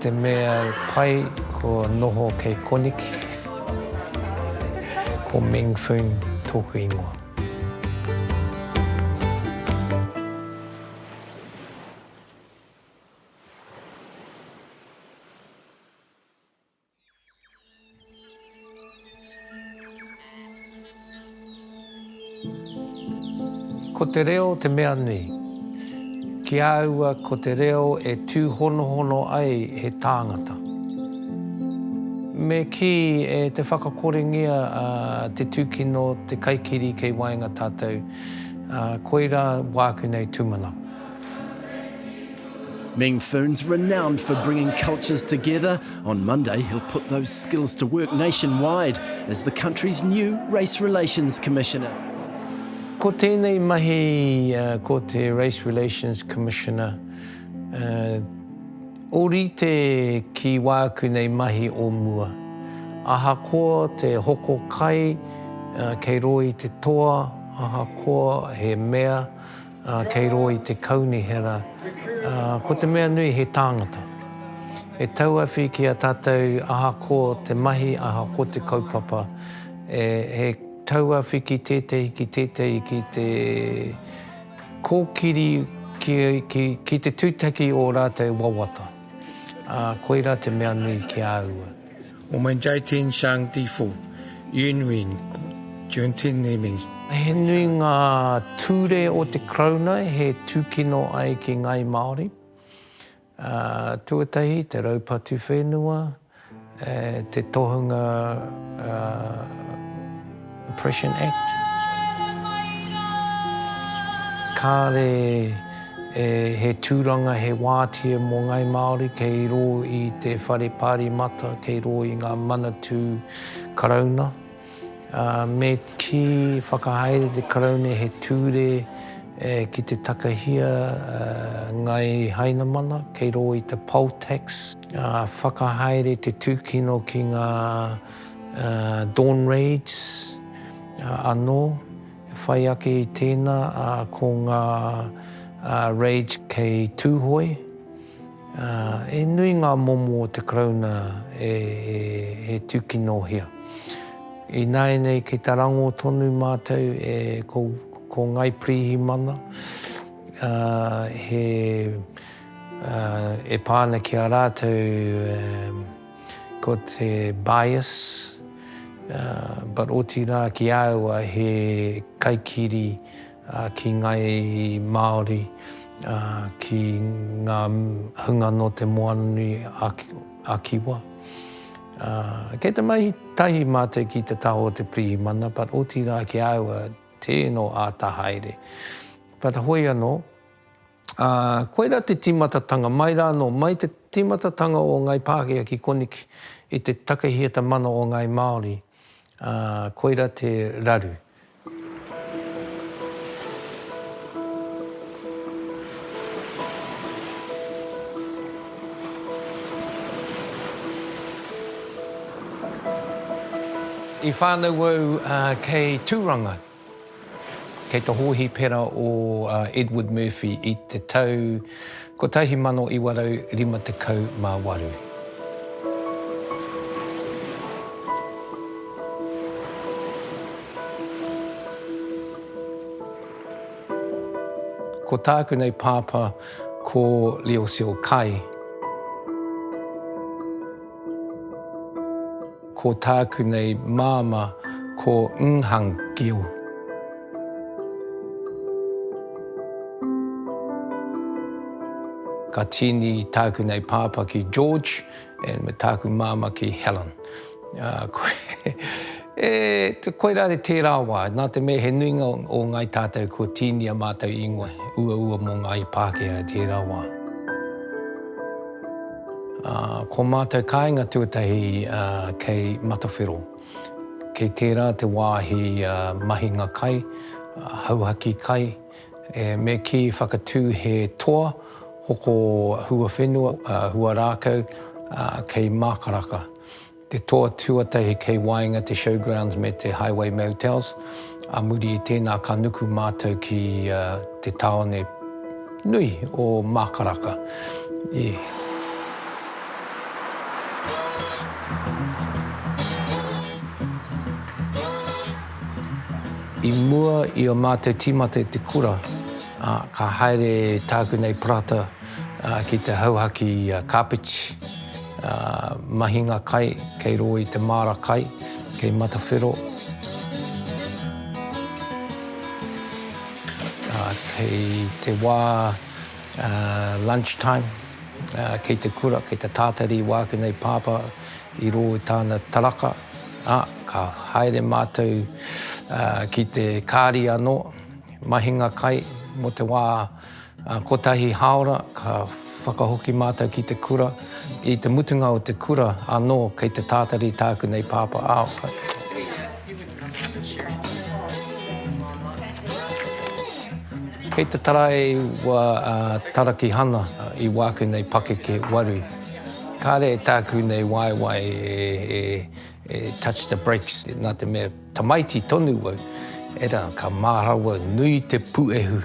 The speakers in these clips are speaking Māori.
Te mea pai ko noho kei koneki ko Meng Foon toku ingoa. Ko te reo te mea nui. Ki a aua ko te reo e tūhonohono ai he tāngata. Me kī e te whakakorengia a te tūkino te kaikiri kei waenga tātou, koirā wāku nei tūmanako. Meng Foon's renowned for bringing cultures together. On Monday, he'll put those skills to work nationwide as the country's new Race Relations Commissioner. Ko tēnei mahi ko te Race Relations Commissioner, ōrite ki wāku nei mahi o mua. Ahakoa te hoko kai kei roa i te toa, ahakoa he mea, Kei rō i te Kaunihera, ko te mea nui he tāngata. E tauawhi ki a tātou aha ko te mahi, aha ko te kaupapa. He tauawhi ki tētahi, ki tētahi, ki te kōkiri, ki te tūtaki o rātou wawata. Koirā te mea nui ki a au. Wo men jai tin shang ti fu, yun win jun tin ni ming. He nui ngā ture o te Karauna he tūkino ai ki ngāi Māori. Tuatahi, te raupatu whenua, te tohunga. Oppression Act, kāre e he tūranga, he wātea mō Ngāi Māori kei rō i te whare Pāremata, kei rō i ngā Manatū Karauna. Me kī, whakahaere te Karauna he tūre ki te takahia Ngāi Hainamana kei rō i te Poll Tax. Whakahaere te tūkino ki ngā. Dawn Raids anō e whai ake i tēnā, ā, ko ngā Raids kei Tūhoe. He nui ngā momo o te Karauna e tūkinohia. Ināianei kei te rangō tonu mātou e ko Ngāi Pirihimana, he e pā ana ki a rātou Ko te bias, but otirā ki a au he kaikiri ki ngai Māori, ki ngā hunga nō te Moananui a Kiwa. Kei te mahi tahi mātou ki te taha o te pirihimana, but otirā ki a au tē nō āta haere. But hoi anō. Ā, koirā te tīmatatanga, mai rānō, mai te tīmatatanga o Ngāi Pākehā ki koneki i te takehiata mana o Ngāi Māori, ā, koirā te raru. I whānau au kei Tūranga. Kei te hōhipera o Edward Murphy i te tau 1958. Ko tāku nei pāpā ko Leo Seal Kay. Ko tāku nei māmā ko Nhang Gil. Ka tīni tāku nei pāpā ki George and me tāku māmā ki Helen. E, koirā tērā wā, nā te mea he nuinga o ngāi tātou kua tīni a mātou ingoa uaua mō ngāi Pākehā i tērā wā. Ko mātou kāinga tuatahi kei Matawhero. Kei tērā te wāhi mahinga kai, hauhaki kai, me kī whakatū he toa hoko huawhenua, huarākau kei Mākaraka. te toa tuatahi kei waenga te Showgrounds me te Highway Motels, a muri i tēnā ka nuku mātou ki te tāone nui o Mākaraka. I. I mua i ō mātou tīmata i te kura, ka haere tāku nei parata ki te hauhaki kāpeti. Ngā mahinga kai kei rō i te māra kai, kei Matawhero, kei te wā lunch time, kei te kura, kei te tātari i wāku nei pāpā i rō i tāna taraka, ā, ka haere mātou ki te kāri anō, mahinga kai mō te wā. Kotahi hāora ka whakahoki mātou ki te kura. I te mutunga o te kura anō kei te tātari tāku nei pāpā Kei te taraiwa a Tarakihana i wāku nei pakeke waru. Kāre tāku nei waewae e touch the brakes nā te mea. Tamaiti tonu wau, era ka marawa nui te puehu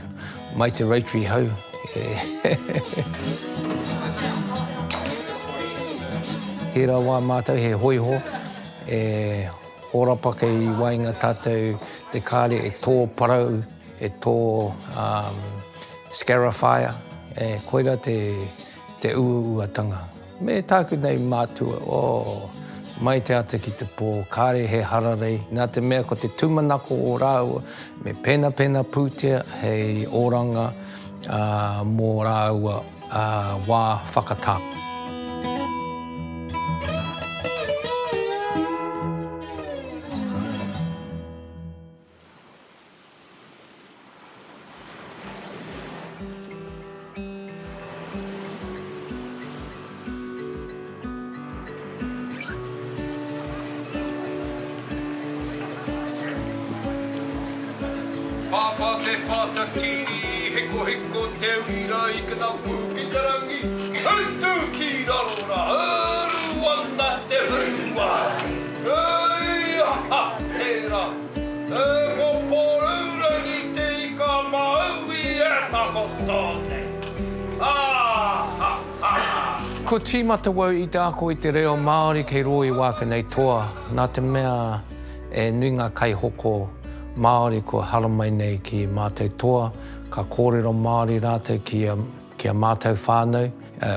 mai te Rotary hau e. Tera wa matou he hoiho e horapa kei waenga tatou te kare e to parau, e to scarifier, koira te uauatanga. Me tāku nei mātua, oh. Mai te ata ki te pō, kāre he hararei, nā te mea ko te tūmanako o rāua, me penapena pūtea hei oranga mō rāua wā whakatā. Pāpā te whātatiri Hekoheko te uira i ka tapu ki te rangi Hūtu ki raro rā Uru ana te whenua Hei aha tērā! E ko Porourangi te ika māui e takoto nei. Ha ha ha! Ko Tīmatawau i te ako i te reo Māori kei rō i Wākena i toa, nā te mea e nui ngā kaihoko Māori kua haramai nei ki mātou toa, ka kōrero Māori rātou ki a mātou whānau,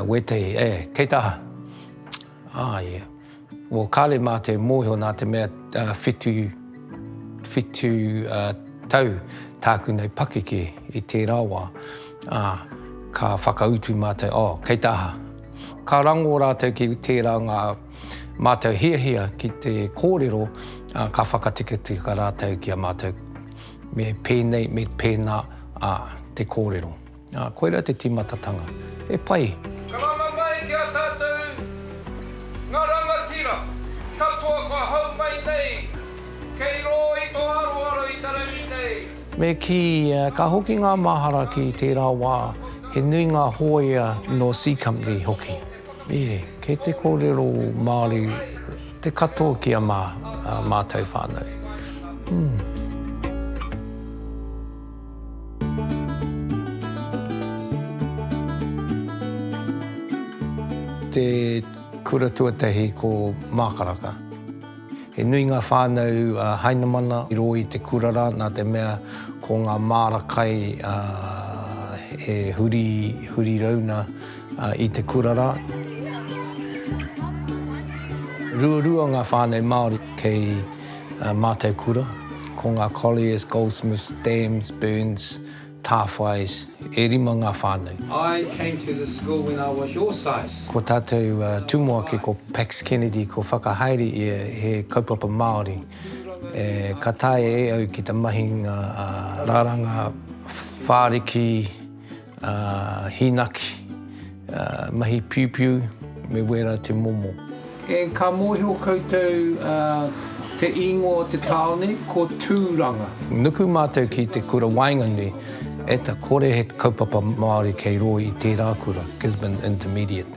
wētahi, e, kei te aha? Ā, ia. Well, kāre mātou e mōhio nā te mea whitu, whitu tau tāku nei pakeke i tērā wā, ā, ka whakautu mātou, oh, kei te aha? Ka rangō rātou ki tērā ngā mātou hiahia ki te kōrero, ā, ka whakatikatika rātou ki a mātou me pēnei, me pēnā, ā, te kōrero. Ā, koirā te tīmatatanga. He pai! Karanga mai ki a tatou nga rangatira katoa kua hau mai nei kei ro i to aroaro i tarangi nei. Me kī, ka hoki ngā mahara ki tērā wā, he nui ngā hōia nō C Company hoki. Ē, kei te kōrero Māori te katoa ki a mātou whānau. Umm. Te kura tuatahi ko Mākaraka. He nui ngā whānau a Hainamana i rō i te kura rā nā te mea ko ngā māra kai e huri, huri rauna i te kura rā. Ruarua ngā whānau Māori kei. Ā mātou kura, ko ngā Colliers, Goldsmiths, Dams, Burns, Tāwhais, e rima ngā whānau. I came to this school when I was your size. Ko tātou tumuaki ko Pax Kennedy ko whakahaere ia he kaupapa Māori e ka taea e au ki te mahinga raranga whāriki. hīnaki, mahi piupiu me wērā te momo. E ka mōhio koutou te īngoa o te tāone ko Tūranga. Nuku mātou ki te kura waenganui e ta kore he kaupapa Māori kei rō i tērā kura, Gisborne Intermediate.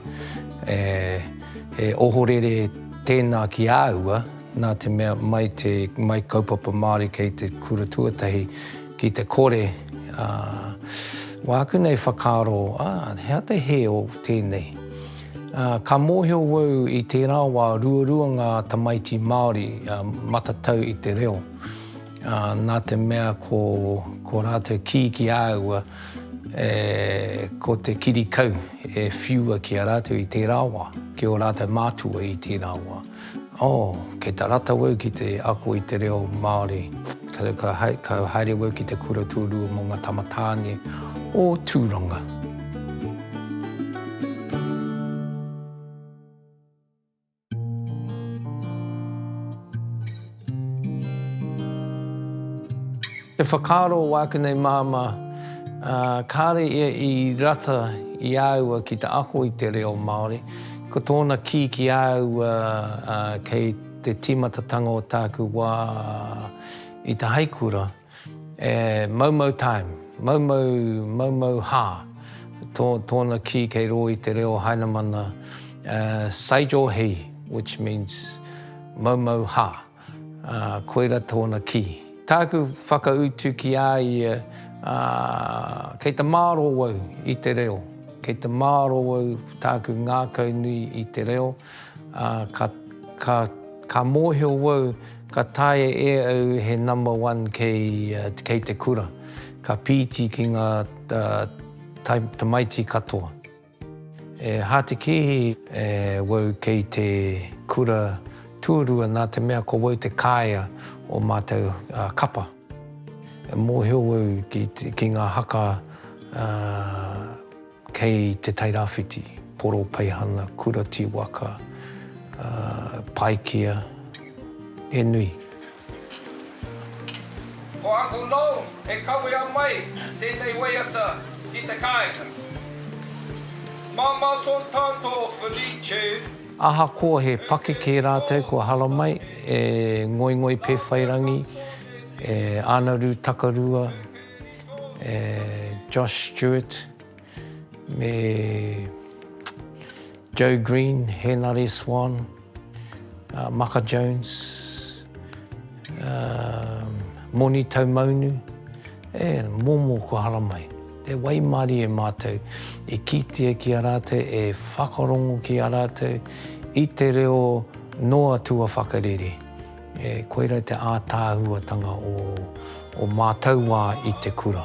He ohorere tēnā ki āua nā te mea mai te mai kaupapa Māori kei te kura tuatahi Ki te kore wāku nei whakaaro, ā, he aha te hē o tēnei? Ka mōhio au i tērā wā ruarua ngā tamaiti Māori matatau i te reo, nā te mea ko ko rātou kī ki a au e ko te kiri kau e whiua ki a rātou i tērā wā, ki ō rātou mātua i tērā wā. Oh, kei tā rātou au ki te ako i te reo Māori. Ka haere au ki te kura tūrua mō ngā tamatāne o Tūranga. Te whakaaro o wāku nei māmā, kāre ia i rata i a aua ki te ako i te reo Māori, ko tōna kī ki a aua kei te tīmatatanga o tāku wā i te haikura, e maumau time, maumau, maumau hā, tō, tōna kī kei rō i te reo Hainamana, sage or he, which means maumau hā. Ā, koirā tōna kī. Tāku whakautu ki ā ia, ā, kei te mārō au i te reo, kei te mārō au tāku ngākau nui i te reo, ā, ka, ka, ka mōhio au ka taea e au he number one kei, kei te kura, ka pīti ki ngā, ā, tai, tamaiti katoa. E Hātekihi, e wau kei te kura tuarua nā te mea ko wau te kāea o mātou kapa. E mōhio wau ki ngā haka kei Te Tairāwhiti, Poropeihana, Kura Tīwaka, Paikea, he nui. Ko Uncle Noel e kawea mai tēnei waiata ki te kāinga. Māmā Saw Tanto Felice. Ahakoa he pakeke rātou kua hara mai e Ngoingoi Pēwhairangi, e Ānaru Takarua, e Josh Stewart, Me Joe Green, Henare Swan, Maka Jones, Moni Taumaunu, e momo kua haramai. Te waimarie mātou i kitea ki a rātou, e whakarongo ki a rātou i te reo noa tuawhakarere. Koira te ātaahuatanga o mātou wā i te kura.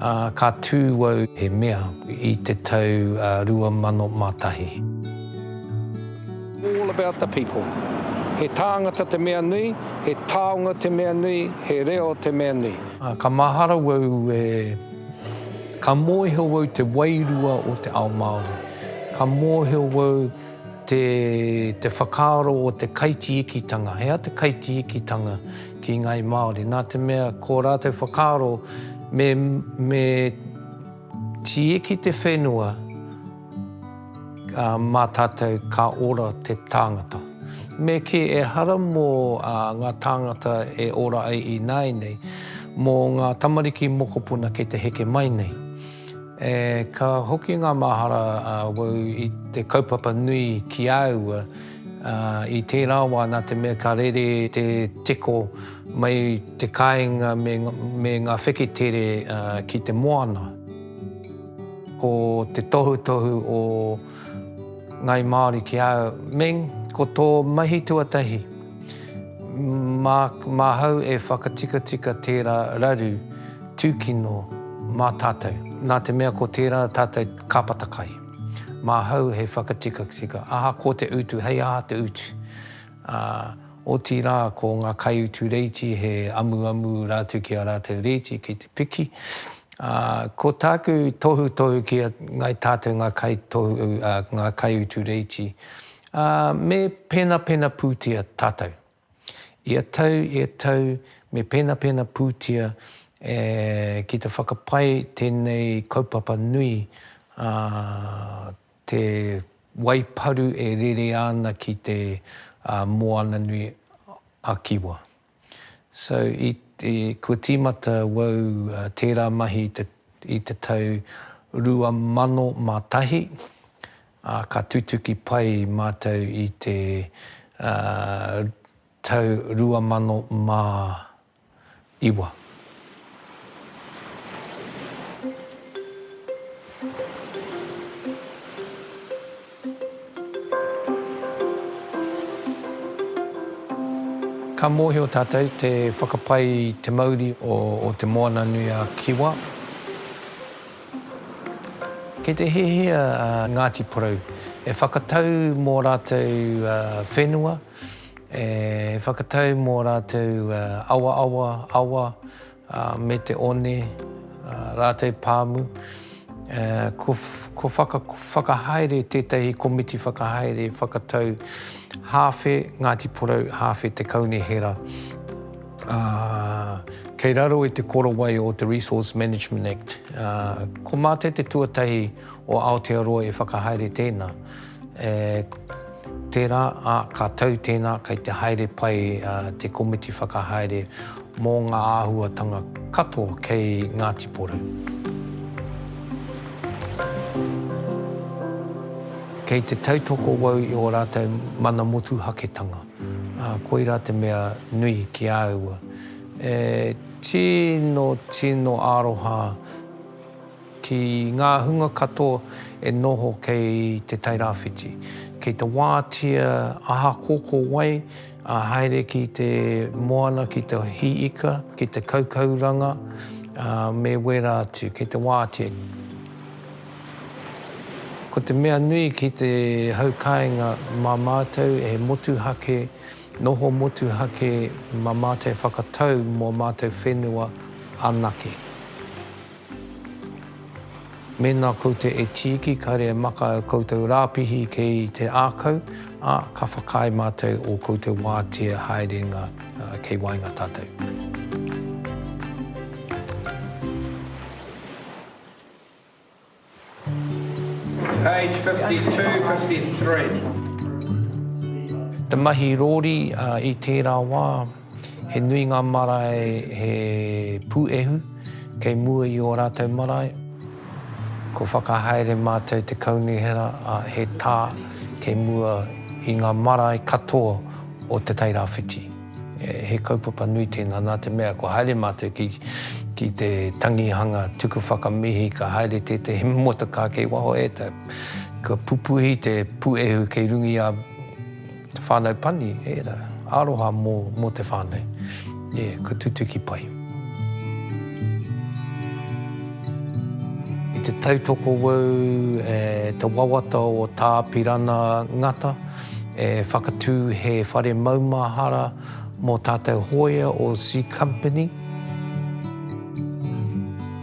Ā, ka tū au he mea i te tau 2001. All about the people. He tāngata te mea nui, he taonga te mea nui, he reo te mea nui. Ā, ka mahara au e, ka mōhio au te wairua o te ao Māori. Ka mōhio au te, te whakaaro o te kaitiikitanga. He aha te kaitiikitanga? ki ngāi Māori, nā te mea ko rātou whakaaro me, me tieki te whenua mā tātou ka ora te tāngata. Me kī, ehara mō ngā tāngata e ora ai ināianei, mō ngā tamariki mokopuna kei te heke mai nei. E, ka hoki ngā mahara auau i te kaupapa nui ki a aua, Ā, i tērā wā, nā te mea ka rere te teko mai i te kāinga me ngā wheketere ki te moana, ko te tohutohu o Ngāi Māori ki a au, Meng, ko tō mahi tuatahi, māhau e whakatikatika tērā raru tūkino mā tātou, nā te mea ko tērā tātou kāpata kai. Māhau he whakatikatika, ahakoa te utu, hei aha te utu. Ā, otirā ko ngā kaiutu reiti he amuamu rātou ki a rātou reiti ki te piki. Ā, ko tāku tohutohu ki a ngai tātou ngā kaitohu, ā, ngā kaiutu reiti, ā, me penapena pūtia tātou. Ia tau, ia tau, me penapena pūtia e ki te whakapae tēnei kaupapa nui a Te Wai Paru e rere ana ki te Moana nui a Kiwa. So, i, kua tīmata wau tērā mahi i te tau 2001, ā, ka tutuki pai mātou i te tau 2009. Ka mōhio tātou te whakapai i te mauri o Te Moananui-a-Kiwa. Kei te hiahia a Ngāti Porou e whakatau mō rātou whenua, e whakatau mō rātou awaawa, awa, me te one, rātou pāmu. Kua whakahaere tētahi komiti whakahaere whakatau hāwhe Ngāti Porou, hāwhe Te Kaunihera. ā, kei raro i te korowai o te Resource Management Act, ā, ko Mate te tuatahi o Aotearoa e whakahaere tēnā, ē, tērā, ā, ka tau tēnā kei te haere pai te komiti whakahaere mō ngā āhuatanga katoa kei Ngāti Porou. Kei te tautoko wau i ō rātou mana motuhaketanga. Ā, koirā te mea nui ki a au. E tino, tino aroha ki ngā hunga katoa e noho kei Te Tai Rāwhiti. Kei te wātea aha ko ko wai, ā, haere ki te moana ki te hī ika, ki te kaukauranga, ā, me wērā atu, kei te wātea. Ko te mea nui ki te haukāinga mā mātou he motuhake, noho motuhake mā mātou e whakatau mō mātou whenua anake. Mēnā koutou e tīki kāre e maka ō koutou rāpihi kei te ākau, ā, ka whakaae mātou ō koutou wātea haerenga kei waenga tātou. Page 52, 53. Te mahi rōri i tērā wā, he nui ngā marae he pūehu kei mua i ō rātou marae. Kua whakahaere mātou te Kaunihera he tā kei mua i ngā marae katoa o Te Tai Rāwhiti. He kaupapa nui tēnā, nā te mea kua haere mātou ki, ki te tangihanga tuku whakamihi, ka haere tētehi motorcar kei waho e tau. Kua pupuhi te puehu kei rungia te whānau pani, ērā, aroha mō, mō te whānau. Ie, kua tutuki pai. I te tautoko wau e te wawata o Tāpirana Ngata, e whakatū he whare maumahara mō tātou hōia o C Company.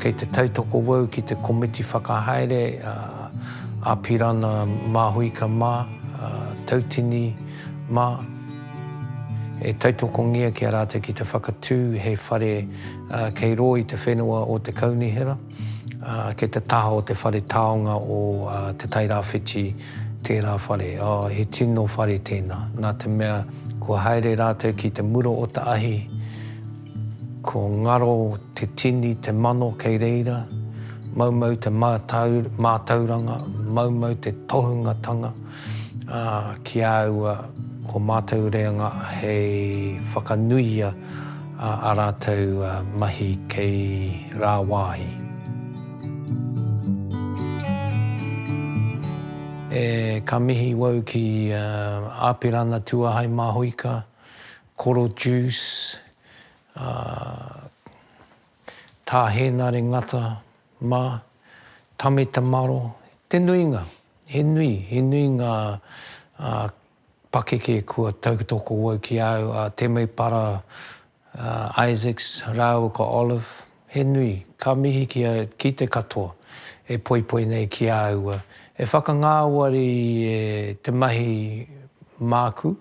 Kei te tautoko au ki te komiti whakahaere, a Apirana Māhuika mā, a Tautini mā, e tautokongia ki a rātou ki te whakatū he whare kei rō i te whenua o Te Kaunihera. Kei te taha o te whare taonga o Te Tai Rāwhiti tērā whare. He tino whare tēnā, nā te mea kua haere rātou ki te mura o te ahi, ko ngaro te tini, te mano kei reira, maumau te mātauranga, maumau te tohungatanga. Ā, ki a au, ko mātou reanga hei whakanuia ā rātou mahi kei rāwāhi. E, ka mihi wau ki Āpirana Tuahai Māhuika, Koro Juice, ā, Tā Hēnare Ngata mā, Tame Te Maro, te nuinga. He nui, he nui ngā pakeke kua tautoko au ki a au, a Temepara, a Isaacs rāua ko Olive, he nui. Ka mihi ki a, ki te katoa e poipoi nei ki a au, e whakangāwari e te mahi māku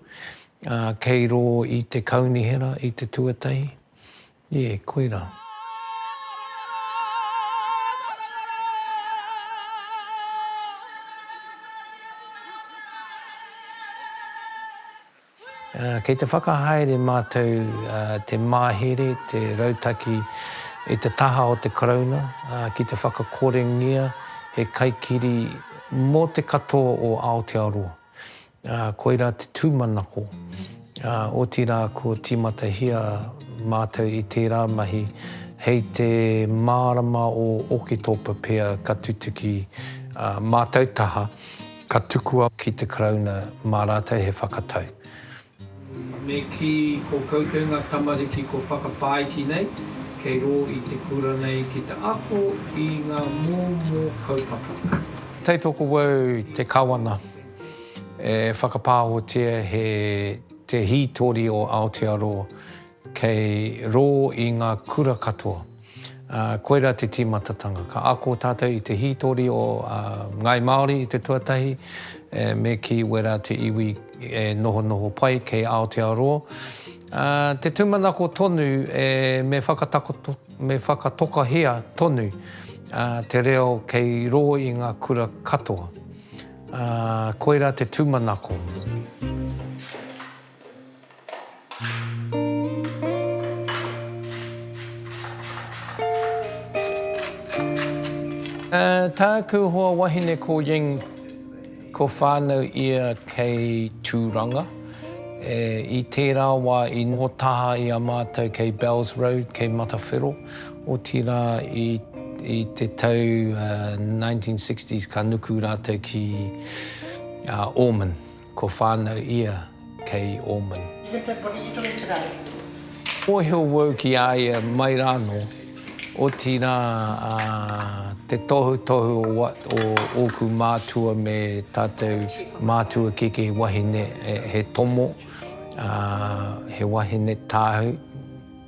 kei rō i te Kaunihera i te tuatahi, Nē, koirā. Kei te whakahaere mātou te mahere, te rautaki i te taha o te Karauna ki te whakakorengia he kaikiri mō te katoa o Aotearoa. Ā, koirā te tūmanako. Ā, otirā kua tīmatahia mātou i tērā mahi hei te mārama o Oketopa pea ka tutuki ā mātou taha, ka tukua ki te Karauna mā rātou he whakatau. Me kī, Ko koutou ngā tamariki ko whakawhāiti nei, kei rō i te kura nei ki te ako i ngā mōmō kaupapa. Tautoko wau te Kawana. E whakapāhotia he te hītori o Aotearoa kei rō i ngā kura katoa. Koirā te tīmatatanga. Ka ako tātou i te hītori o Ngāi Māori i te tuatahi, me kī wērā te iwi e nohonoho pai kei Aotearoa. Te tūmanako tonu me whakatokahia tonu te reo kei rō i ngā kura katoa. Ā, koirā te tūmanako. Ā, tāku hoa wahine ko Ying, ko whānau ia kei Tūranga. E, i tērā wā i noho taha i a mātou kei Bells Road, kei Matawhero. Otirā, i te tau 1960s ka nuku rātou ki Ormond, ko whānau ia kei Ormond. He pepori i runga i te raru. Mōhio wau ki a ia mai rānō, otirā te tohutohu o ōku mātua me tātou mātua keke wahine, he tomo, he wahine tāhū.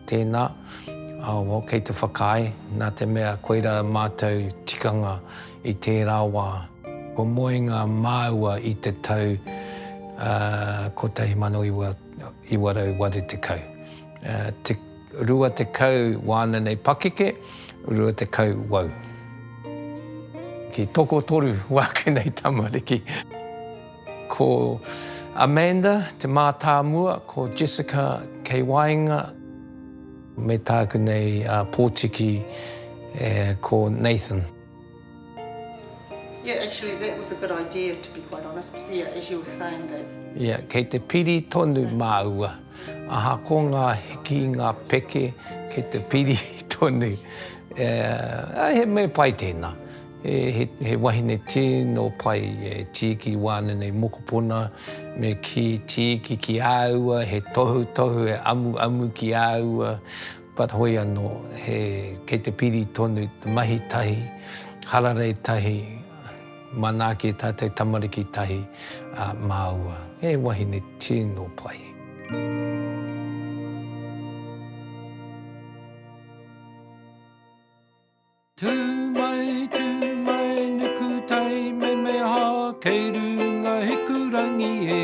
Tēnā, awa kei te whakaae, nā te mea koirā mātou tikanga i tērā wā. Kua moe ngā māua i te tau 1980. Te 20 wāna nei pakeke, 20 wau. Ki tokotoru wāku nei tamariki. Ko Amanda te mātāmua, ko Jessica kei waenga. Me tāku nei pōtiki ko Nathan. Yeah actually that was a good idea to be quite honest because yeah as you were saying that. Yeah kei te piri tonu māua aha ko ngā hiki ngā peke kei te piri tonu he mea pai tēnā. He wahine tino pai, he tiiki wānenei mokopuna, me kī tiiki ki a aua, he tohutohu, he amuamu ki a aua, but hoi anō, he, kei te piri tonu te mahi tahi, hararei tahi, manaaki tātou tamariki tahi, ā, māua. He wahine tino pai. Tū mai, tū mai, nuku taimemeha, kei runga Hikurangi e.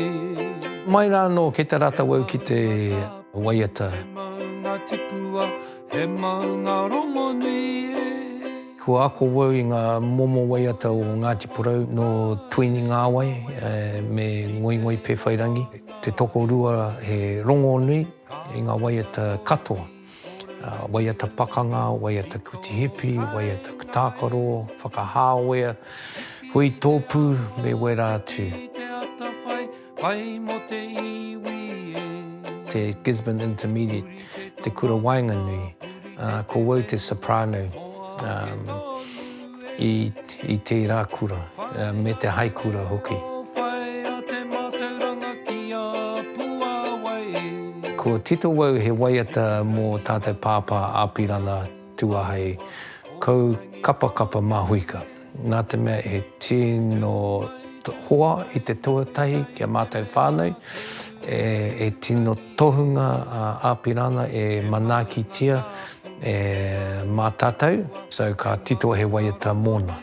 Mai rā anō kei te rātau au ki te waiata. He maunga tipua, he maunga rongonui e. Kua ako au i ngā momo waiata o Ngāti Porou nō Tuini Ngāwai me Ngoingoi Pēwhairangi, te tokorua he rongonui i ngā waiata katoa. waiata pakanga, waiata kuti hipi, waiata tākaro, whakahāwea, hui tōpū, me wērā atu. Te Gisborne Intermediate, te kura waenganui, ko wau te soprano. i tērā kura, me te hai kura hoki. Ko Tito Wau he waiata mō tātou Pāpā Apirana Tuahei Kaukapakapa Mahuika, nā te mea he tino hoa i te tuatahi ki a mātou whānau, e tino. Tohunga Apirana e manaakitia e ma tatou so ka tito he waiata mona.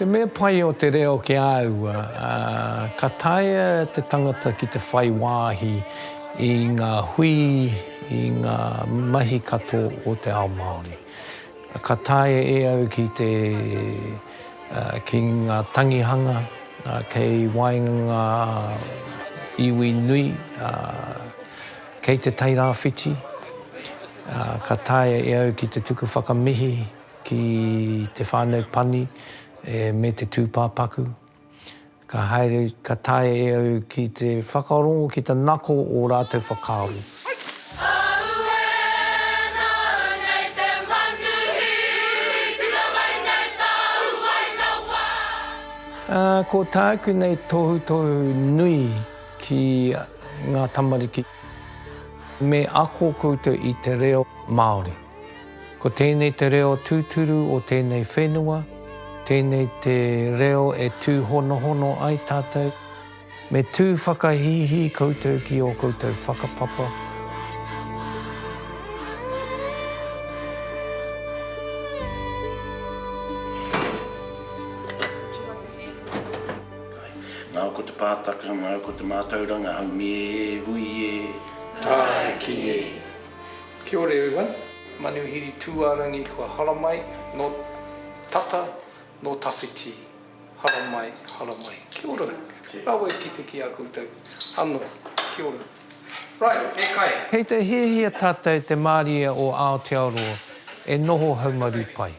Te mea pai o te reo ki a au, ka taea te tangata ki te whai wāhi i ngā hui, i ngā mahi katoa o te ao Māori. Ka taea e au ki te, ki ngā tangihanga kei waenga ngā iwi nui, Kei te Tairāwhiti, ā, ka taea e au ki te tuku whakamihi ki te whānau pani me te tūpāpaku. Ka haere, ka taea e au ki te whakarongo, ki te nako ō rātou whakaaro. Ā, ko tāku nei tohutohu nui. ki ngā tamariki me ako koutou i te reo Māori. Ko tēnei te reo tūturu o tēnei whenua, tēnei te reo e tūhonohono ai tātou, me tū whakahīhī koutou ki ō koutou whakapapa, Ngau ko te pātaka, ngau ko te mātauranga haumi e, hui e, tāiki e. Kia ora everyone. Manuhiri Tūārangi kua haramai, nō tata, nō tawhiti, haramai, haramai. Kia ora. Rawe ki te ki a koutou anō. Kia ora. Right, e kai. Kei te hiahia tātou te mārie o Aotearoa e noho haumaru pai.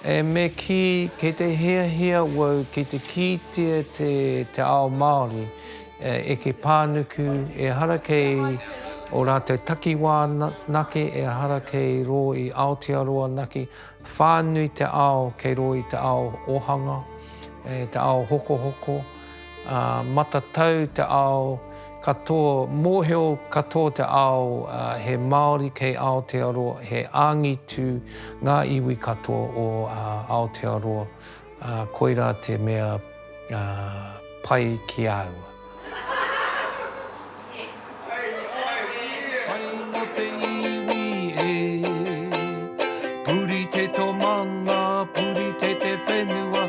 E me kī, kei te hiahia wau ki te kītia te te ao Māori e eke pānuku, ehara kei o rātou takiwā nake, ehara kei rō i Aotearoa nake, whānui te ao kei rō i te ao ohanga, te ao hokohoko, Ā, matatau te ao katoa, mōhio katoa te ao, ā, he Māori kei Aotearoa, he angitu ngā iwi katoa o Aotearoa, ā, koirā te mea, ā, pai ki a au. Pai mō te iwi e. Purite tō mana, purite te whenua.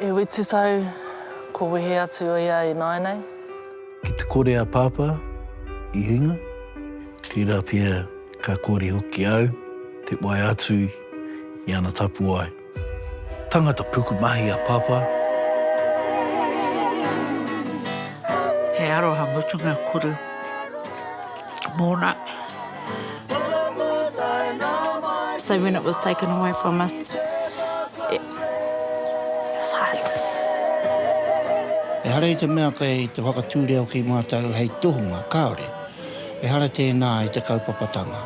E whitu tau, ko wehe atu ia i nāinei. Ki te kore a Pāpā i hinga. Tērā pea ka kore hoki au te wae atu i ana tapuwae. Tangata pukumahi a Papa. He aroha mutunga kuru mona. So when it was taken away from us, it was hard. Ehara i te mea kei te whakatū reo ki mātou hei tohunga, kāore. Ehara tēnā i te kaupapatanga.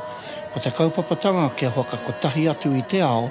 Ko te kaupapatanga kia whakakotahi atu i te ao,